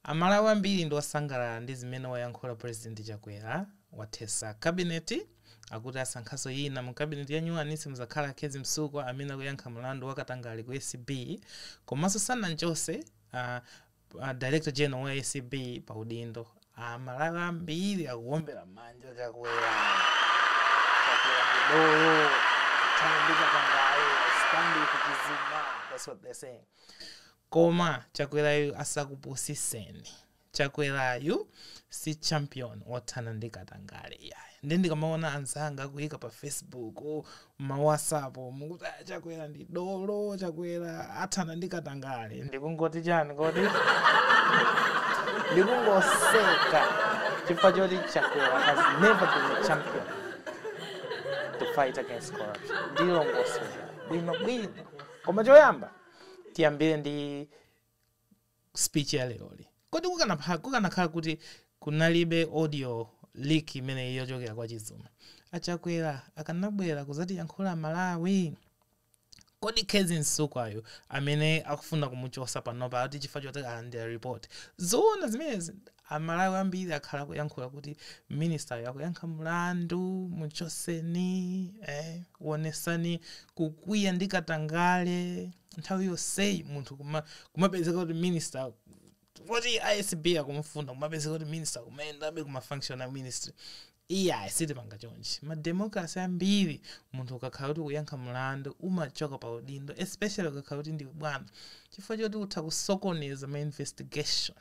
Amalawi ambiri ndi osangalala ndi zimene wayankhula President Chakwera, wathesa cabinet, akuti asankhanso yina mu cabinet yanyuwani simuzakhala a Khezi Msukwa amene akuyankha mulandu wa katangale ku acb, komaso sananchose a Director General wa acb pa udindo. Amalawi ambiri akuwombera mmanja Chakwera. Chakwera ndi dolo, tithane ndi katangale, stand with Chizuma, that's what they're saying. Koma chakwerayu asakupusiseni. Chakwerayu si champion othana ndi katangale iyayi. Nde ndikamaona anzanga akuyika pa facebook, ma whatsapp mukuti ah chakwera ndi dolo, chakwera athana ndi katangale. Ndikungoti chani kodi? Ndikungoseka chifukwa choti chakwera has never been a champion to fight against corruption. Ndilongosola bwino bwino. Koma choyamba tiyambire ndi speech ya leroli. Kodi kukanapha- kukanakhala kuti kunalibe audio leak imeneyi yochokera kwa Chizuma, a Chakwera akanabwera kuzatiyankhula Malawi? Kodi Khezi Msukwayu amene akufuna kumuchosa panopa akuti chifukwa choti alandira report, zoona zimenezi? A Malawi ambiri akhala akuyankhula kuti minister-yu akuyankha mlandu, muchoseni, eh, wonesani kukwiya ndi katangale, nthawi yonseyi munthu kuma, kumapezeka kuti minister, poti a acb akumufuna, kumapezeka kuti minister akumayendabe ku ma function a ministry. Iyayi sitipanga chonchi. Ma democracy ambiri munthu ukakhala kuti ukuyankha mlandu umachoka pa udindo especially ukakhala kuti ndiwe bwana chifukwa choti utha kusokoneza ma investigation.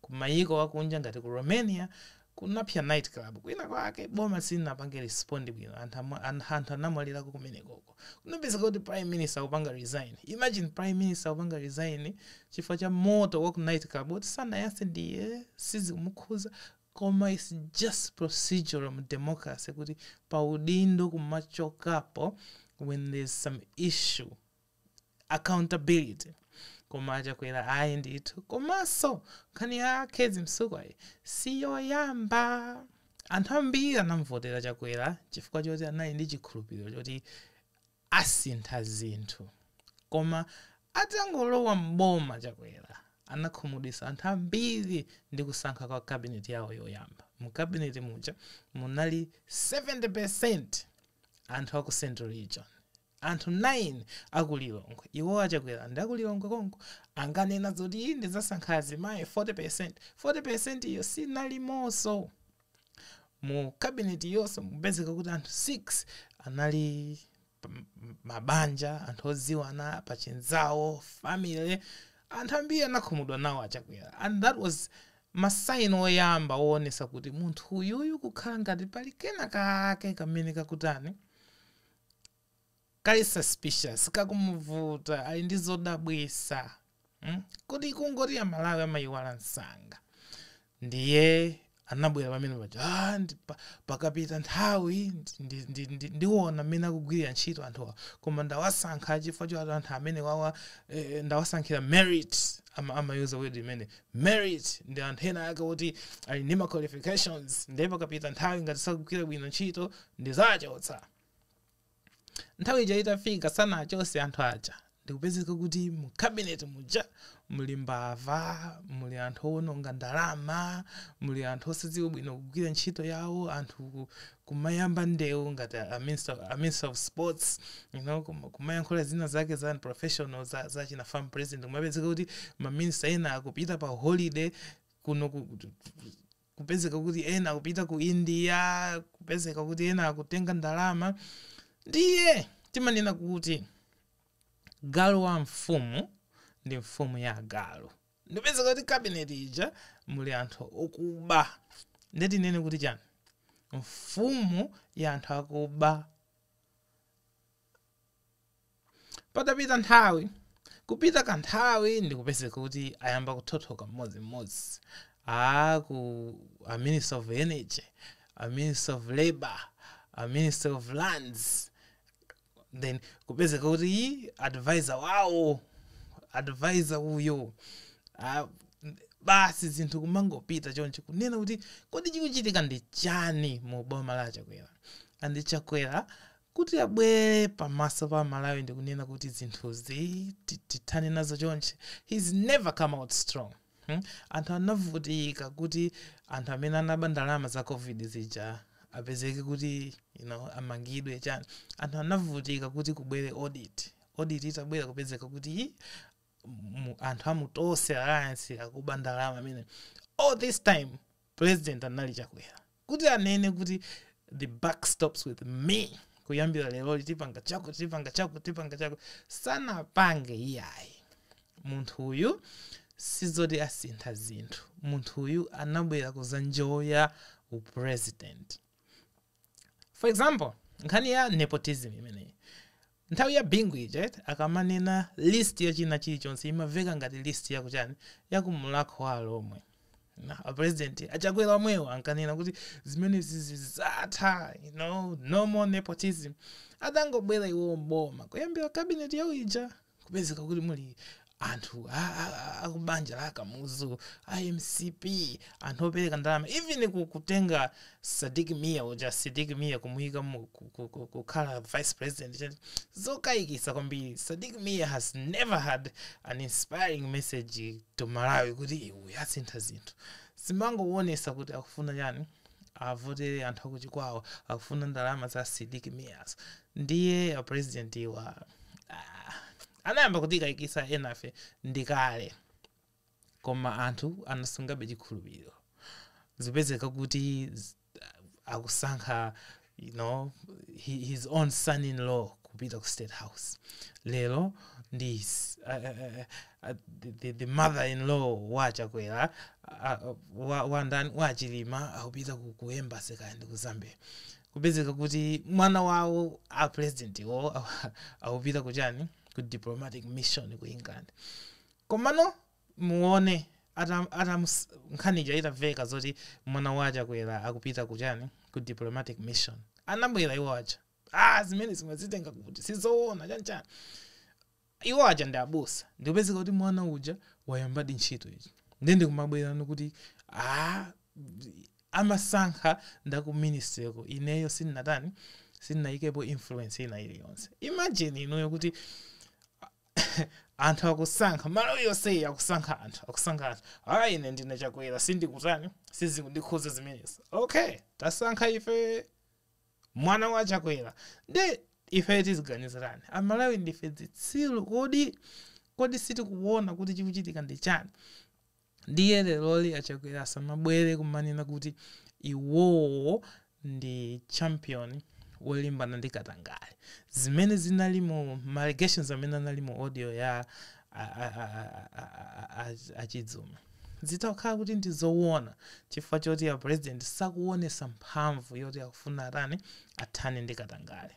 Ku mayiko akunja ngati ku Romania kunapsa night club kwina kwake boma silinapange respond bwino anthu amwa- an- anthu anamwalirako kumenekoko kunapezeka kuti prime minister akupanga resign imagine prime minister akupanga resign chifukwa cha moto wa ku night club oti sanayase ndiye sizikumukhuza koma its just procedural mu democracy kuti pa udindo kumachokapo when there's some issue accountability koma achakwera ayi ndithu komanso nkhani ya a khezi msukwayi siyoyamba anthu ambiri anamvotera chakwera chifukwa choti anali ndi chikhulupiriro choti asintha zinthu koma atangolowa mboma chakwera anakhumudwisa anthu ambiri ndi kusankha kwa kabineti yawo yoyamba mu kabineti muja munali 70 percent anthu aku central region Anthu 9 aku Lilongwe, iwo a Chakwera ndi aku Lilongwe konko, ankanena zoti ndidzasankha azimayi 40%, 40% yo sinalimonso mu cabinet yonso n'kupezeka kuti anthu 6 anali mabanja, anthu odziwana, pa chinzawo, family, anthu ambiri anakhumudwa nawo a Chakwera and that was ma sign oyamba owonetsa kuti munthu uyuyu kukhala ngati pali kena kake kamene kakutani, kali suspicious kakumuvuta ali ndi zodabwisa mm? kodi kungoti amalawi amaiwala msanga ndiye anabwera pamene paja "Ah, ndi- pa- pakapita nthawi ndi- ndi- ndi- ndiona mmene akugwirira ntchito anthuwa koma ndawasankha chifukwa choti anthu amene wawa eh, ndawasankhira merit ama- amayuza word imene merit ndi anthu ena ake kuti ali ndi ma qualifications ndiye pakapita nthawi ngati sakugwira bwino ntchito Ndidzawachotsa. Nthawi ija itafika sanachotse anthu aja ndikupezeka kuti mu cabinet muja muli mbava, muli anthu owononga ndalama, muli anthu osadziwa bwino kugwira ntchito yawo, anthu kumayamba ndewu ngati a minister, a minister of sports you know, kum- kumayankhula zina zake za unprofessional za, za china farm president kumapezeka kuti maminista ena akupita pa holiday kuno ku, kupezeka kuti ena akupita ku india kupezeka kuti ena akutenga ndalama ndiye timanena kuti galu wa mfumu ndi mfumu ya agalu ndikupezeka kuti cabinet ija muli anthu okuba ndiye tinene kuti chani mfumu ya anthu akuba Patapita nthawi, kupita kanthawi ndikupezeka kuti ayamba kuthothoka mmodzi mmodzi a ku a Ministry of Energy, a Ministry of Labor, a Ministry of Lands then kupezeka kuti advisor wawo advisor uyo a, basi zinthu kumangopita choncho kunena kuti kodi chikuchitika ndi chani mu boma la chakwera and chakwera kuti abwere pamaso pa aMalawi ndikunena kuti zinthuzi tithane nazo chonchi he's never come out strong hmm? anthu anavutika kuti anthu amene anaba ndalama za covid zija apezeke kuti you know, amangidwe chani anthu anavutika kuti kubwere audit audit itabwera kupezeka kuti anthu a mu tonse alliance akuba ndalama amene all this time President anali Chakwera kuti anene kuti the buck stops with me kuyambira leroli tipanga chaku tipanga chaku tipanga chaku sanapange iyayi munthu uyu sizoti asintha zinthu munthu uyu anabwera kuzanjoya upresident for example nkhani ya nepotism imeneyi nthawi ya bingu ija eti akamanena list ya china chilichonse imaveka ngati list yakuchani ya ku mulhako wa alomwe na apresident achakwera omwewo ankanena kuti zimenezi zidzatha you know no more nepotism atangobwera iwowo mboma kuyambira cabinet yawo ija kupezeka kuti muli anthu a- a- a- akubanja la akamuzu a mcp anthu opereka ndalama even ku- kutenga sidik mia uja sidik mia kumuyika mu- ku- ku- ku- kukhala vice president chani. zokayikisa kwambiri sidik mia has never had an inspiring message to malawi kuti iwe asintha zinthu zimangowonesa kuti akufuna chani avotere anthu akuchikwawa akufuna ndalama za sidik mia ndiye apresidentiwa ah, anayamba kutikayikisa enafe ndikale koma anthu anasungabe chikhulupiriro ndikupezeka kuti akusankha you know hi- his own son in law kupita ku state house lero ndi his- a- a- a- a- the- the- the mother in law wa chakwera a- a- wa- wa ndani wa chilima akupita ku- ku embassy kaya ndi ku zambia kupezeka kuti mwana wawo a president wo akupita kuchani ku diplomatic mission ku england komano muone ata ata nkhani ija itaveka zoti mwana wa chakwera akupita kuchani ku diplomatic mission anabwera iwo aja ah zimene zimazitenga kuti sizoona chanchani iwo aja ndi abusa ndikupezeka kuti mwana uja wayambadi ntchito iyi nde ndikumabwerano kuti ah amasankha ndaku ministry ko ineyo sinnatani sinnayikepo influence ina iliyonse imagine inuyo kuti anthu akusankha malawi yonseyi akusankha anthu akusankha anthu ayi ine ndine chakwera sindikutani sizikundikhuza zimenezo okay tasankha ife mwana wa chakwera nde ife tiziganiza chani amalawi ndife zitsiru kodi kodi sitikuona kuti chikuchitika ndi chani ndiye leroli achakwera asamabwere kumanena kuti iwowo ndi champion wolimbana ndi katangale zimene zinali mu ma allegations amene anali mu audio ya a- a- a- a- a- a- a- achizuma zitakhala kuti ndi zowona chifukwa choti a president sakuonesa mphamvu yoti akufuna atani athane ndi katangale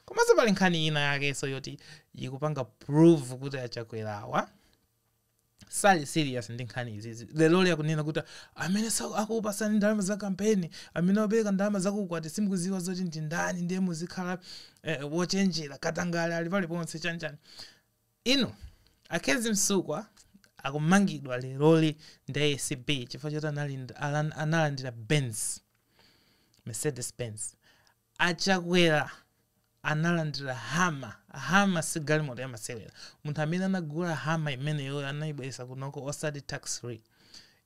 komanso pali nkhani ina yakenso yoti ikupanga prove kuti achakwerawa sali serious ndi nkhani izizi leroli akunena kuti amene sa- akupasani ndalama za kampeni amene wapereka ndalama zakukwati simukuziwa zoti ndi ndani ndiye muzikhala eh, wochenjera katangale ali paliponse chanichani iwo a kezzie msukwa akumangidwa leroli ndi acb chifukwa choti analand- alan- analandira benz mercedes benz A Chakwera analandira Hummer, Hummer si galimoto ya masewera, munthu amene anagula Hummer imeneyoyo anaibweresa kunoko osati tax free,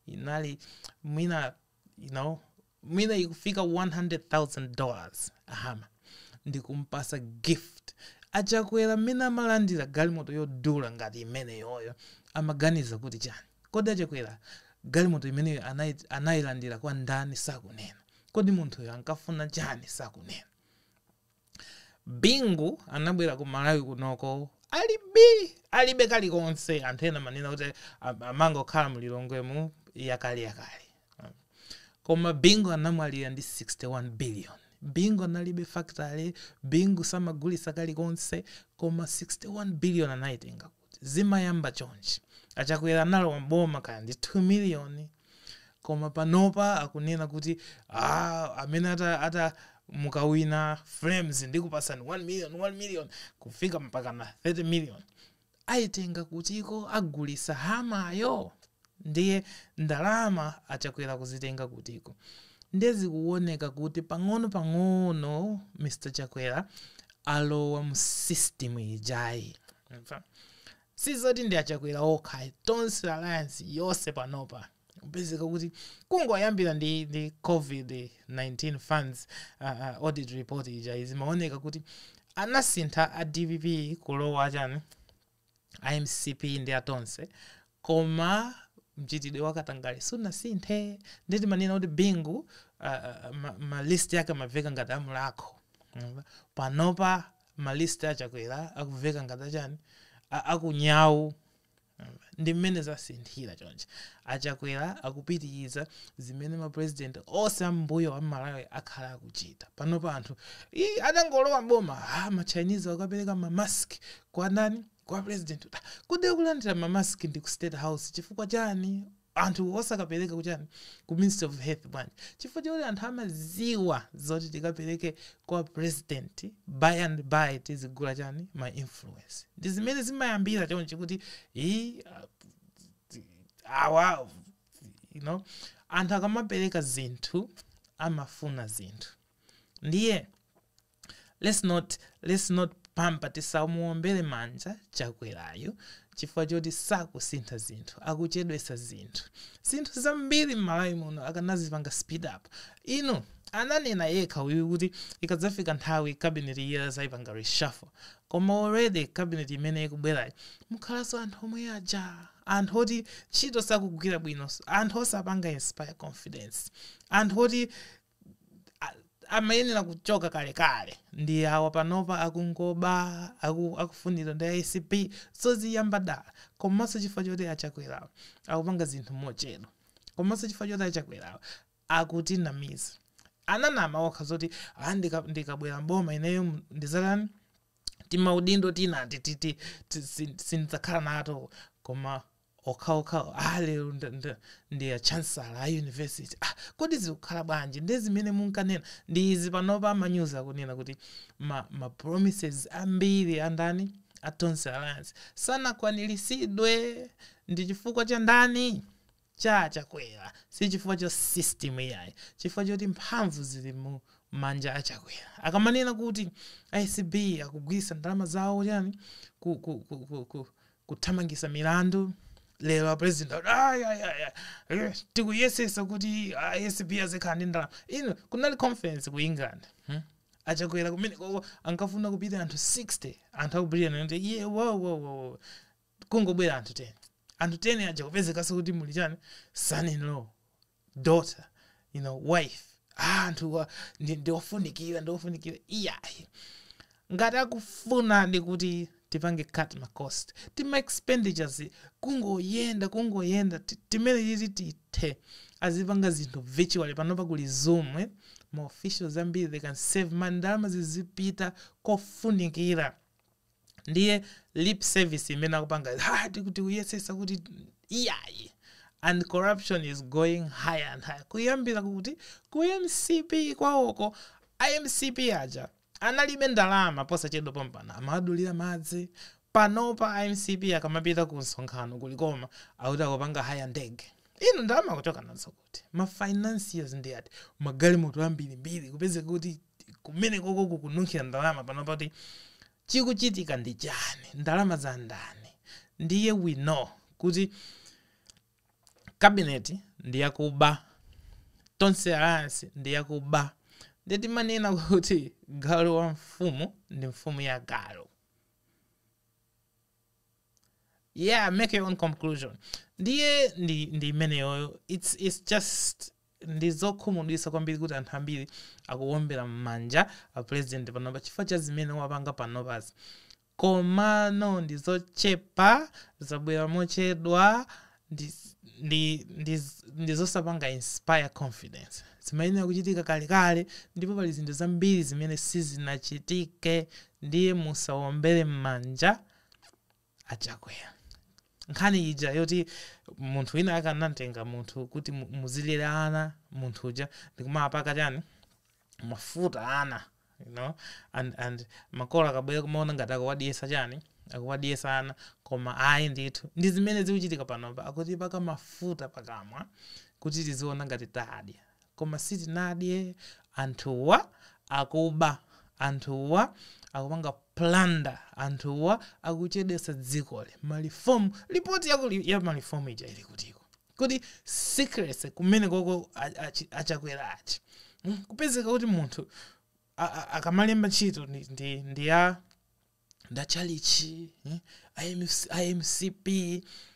inali mwina you know mwina ikufika 100,000 dollars Hummer ndikumpasa gift. A Chakwera mmene amalandira galimoto yodula ngati imeneyoyo amaganiza kuti chani? Kodi a Chakwera galimoto imeneyo anailandira kwa ndani sakunena. Kodi munthuyo ankafuna chani sakunena. Bingu anabwera ku Malawi kunoko alibe alibe kalikonse anthu ena amanena kuti am- amangokhala mu Lilongwemu ya kale ya kale. Koma Bingu anamwalira ndi 61 billion. Bingu analibe factory, Bingu samagulitsa kalikonse koma 61 billion anayitenga. zimayamba chonchi achakwera analowa mboma kaya ndi 2 million koma panopa akunena kuti ah, amene ata, ata mukawina flames ndikupasani 1 million 1 million kufika mpaka na 30 million ayitenga kutiko agulisa Hummer yo ndiye ndalama achakwera kuzitenga kutiko ndiye zikuoneka kuti pang'ono pang'ono mr chakwera alowa mu system ija sizoti ndi achakwera okha ayi. tonse alliance yonse panopa kupezeka kuti kungoyambira ndi, ndi covid-19 funds uh, uh, audit report ija zimaoneka kuti anasintha a dpp kulowa chani a mcp ndi atonse koma mchitidwe wa katangale sunasinthe ndi timanena kuti bingu uh, uh, ma- ma list yake amaveka ngati a mulhako Mm. panopa ma list achakwera akuveka ngati achani a- a ku nyau ndi mmene zasinthira chonchi achakwera akupitiriza zimene mapurezidenti onse ambuyo a m'malawi akhala akuchita panopa anthu "Ii, adangolowa boma ah, ma Chinese akapereka mamask kwa ndani kwa president kuti, "Ah, kodi akulandira mamask ndi ku state house chifukwa chani anthu osakapereka kuchani ku ministry of health bwanji chifukwa chakuti anthu amaziwa zoti tikapereke kwa president by and by tizigula chani ma influence ndi zimene zimayambira chonchi kuti "Ii, ah, awa you know anthu akamapereka zinthu amafuna zinthu ndiye let's not let's not pamper tisamuombere manja chakwerayo chifukwa choti sakusintha zinthu akuchedwesa zinthu zinthu zambiri m'malawi muno akanazipanga speed up inu ananena yekha uyu kuti ikadzafika nthawi cabinet iye azayipanga reshuffle koma already cabinet imene ikubwerayo mukhalanso anthu omwe aja anthu oti ntchito sakugwira bwino anthu osapanga inspire confidence anthu oti a- amayenera kuchoka kalekale ndi awa panopa akungoba aku, akufunidwa ndi acb zoziyamba dala komanso chifukwa choti achakwerawo akupanga zinthu mochedwa komanso chifukwa choti achakwerawo akutinamiza ananama okha zoti "Ah, ndika- ndikabwera mboma ineyo m- ndizatani timaudindo tinati titi ti- sin- sindidzakhala nato koma okhaokhawo ah lero nda- nda- ndi a chancellor a university ah kodi zikukhala bwanji ndi zimene munkanena ndi izi panopa amanyuzi akunena kuti ma, ma promises ambiri andani a tonse alliance sanakwaniritsidwe ndi chifukwa cha ndani cha chakwera si chifukwa cha system iyayi chifukwa choti mphamvu zili mu manja a chakwera akamanena kuti acb akugwiritsa ndalama zawo chani ku, ku, ku, ku, ku, kuthamangisa milandu lero apresident ati, "Ai, ai, ai, ai, eh, tikuyesesa kuti acb azikhala ndi ndalama ino kunali conference ku england hmm? achakwera kumene koko ankafuna kupita anthu 60 anthu aku britain anati iye wowowowo kungobwera anthu 10 anthu 10 aja kupezekaso kuti muli chani son in law daughter you know wife ah, anthu wa- ndi- ndiofunikira ndiofunikira iyayi ngati akufuna ndi kuti tipange cut ma cost tima expenditures kungoyenda kungoyenda ti- timene titi tithe azipanga zinthu virtually panopa kuli zoom eh? ma officials ambiri they can save ma ndalama zizipita kofunikira ndiye lip service imene akupanga "Ha, tiku- tikuyesesa kuti iyayi and corruption is going higher and higher kuyambira kuti ku mcp kwawoko a mcp aja analibe ndalama posachedwa pompano amadulira madzi panopa a mcp akamapita ku msonkhano kulikoma akuti akupanga haya ndege inu ndalama akuchoka nazo kuti kuti ma financiers ndi ati magalimoto ambirimbiri kupezeka kuti kumene koko kukununkhira ndalama pano pati chikuchitika ndi chani ndalama za ndani ndiye we know kuti kabineti ndi yakuba tonse alliance ndi yakuba ndiye timanena kuti galu wa mfumu ndi mfumu ya agalu yeah make your own conclusion ndiye ndi ndi imeneyoyo it's, it's just ndi zokhumudwisa kwambiri kuti anthu ambiri akuwombera m'manja a president panopa chifukwa cha zimene wapanga panopazi komano ndi zochepa zabwera mochedwa ndi, ndi, ndi, ndi zosapanga inspire confidence zimayenera kuchitika kalekale ndipo pali zinthu zambiri zimene sizinachitike ndiye musawombere m'manja achakwera nkhani ija yoti munthu wina akanamtenga munthu kuti mu- muzilera ana munthu uja ndikumawapaka chani mafuta ana you know and and makolo akabwera kumaona ngati akuwadyesa chani akuwadyesa ana koma ayi ndithu ndi zimene zikuchitika panopa akuti paka mafuta pakamwa kuti tiziona ngati tadya koma sitinadye anthuwa akuba anthuwa akupanga planda anthuwa akuchedesa dzikoli malifomu lipoti ya malifomu ija ili kutiko kodi secrecy kumene koko a- achi- achakwera achi Mm, kupezeka kuti munthu a- a- akamalemba ntchito ndi- ndi ndi wa ndachalichi eh, MC, MCP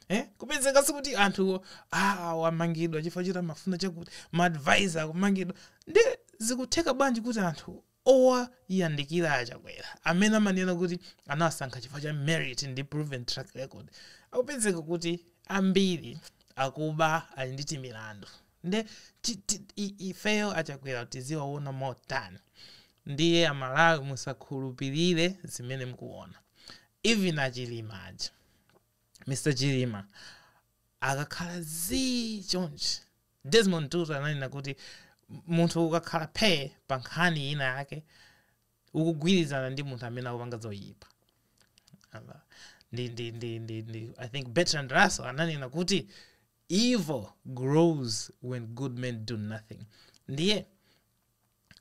eh, kupezekanso kuti anthu ah, awamangidwa chifukwa choti amafuna chakuti maadvisor akumangidwa ndi zikutheka bwanji kuti anthu owayandikira achakwera amene amanena kuti anawasankha chifukwa cha merit ndi proven track record akupezeka kuti ambiri akuba ali ndi timilandu nde ti- ti- i- ifeyo achakwera tiziwaona motani ndiye amalawi musakhulupirire zimene mukuona even achilima aja mr chilima akakhala zii chonchi Desmond Tutu ananena kuti munthu ukakhala phee pa nkhani ina yake ukugwirizana ndi munthu amene akupanga zoyipa ndi, ndi, ndi, ndi, ndi, i think bertrand russell ananena kuti evil grows when good men do nothing ndiye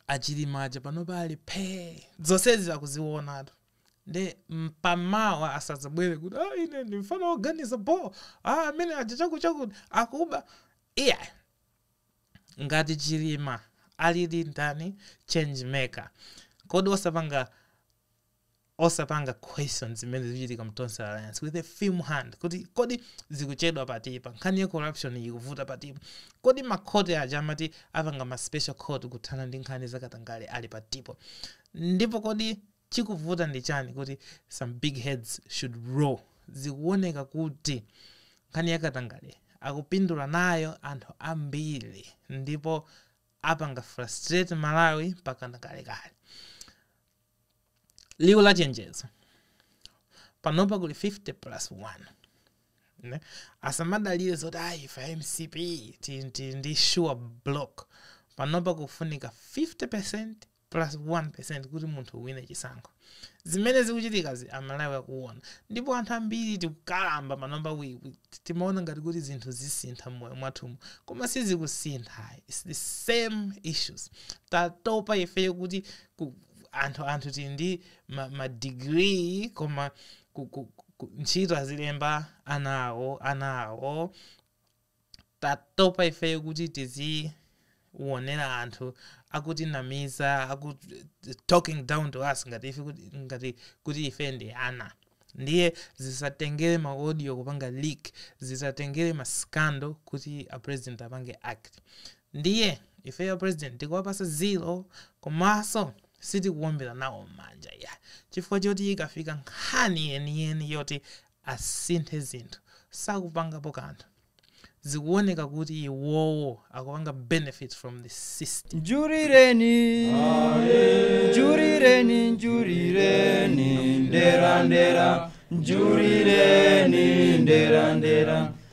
achilima aja panopa ali phee zonsezi akuziwonatu nde mpamawa asadzabwere kuti ah, ine ndi mfana woganiza bo ah, amene aja chakutichakuti akuba iya ngati chilima alili ndani change maker kodi osapanga osapanga question zimene zikuchitika mu tonse alliance with a firm hand kuti kodi zikuchedwa patipa nkhani ya corruption ikuvuta patipo kodi makhoti aja amati apanga ma special court kuthana ndi nkhani zakatangale ali patipo ndipo kodi chikuvuta ndi chani kuti some big heads should roll zikuoneka kuti nkhani yakatangale akupindula nayo anthu ambiri ndipo apanga frustrate malawi mpakana kalekale liwu la chenjezo panopa kuli 50 plus 1 ne asamadalire zoti ayi ife mcp ti- ti- ndi sure bloc panopa kufunika 50 plus 1 kuti munthu uwine chisankho zimene zikuchitikazi amalawi akuona ndipo anthu ambiri tikukalamba panopa we- we- timaona ngati kuti zinthu zisintha mmoyo mwathumu koma sizikusintha it's the same issues tatopa ifeyo kuti ku, anthu anthu tili ndi ma, ma degree koma ku, ku, ku, ntchito azilemba ana awo ana awo tatopa ifeyo kuti tiziwonera anthu akutinamiza aku talking down to us ngati ife kuti, ngati kuti ife ndi ana ndiye zisatengere ma audio kupanga leak zisatengere ma scandal kuti a president apange act Ndiye ifeyo apresident tikuwapasa zero komaso sitikuwombera nawo mmanja iyayi chifukwa choti ikafika nkhani yeniyeni yoti asinthe zinthu sakupangapo kanthu zikuwoneka kuti iwowo akupanga benefit from the system. Njurireni, njurireni, njurireni, ndera, ndera, njurireni, ndera, ndera.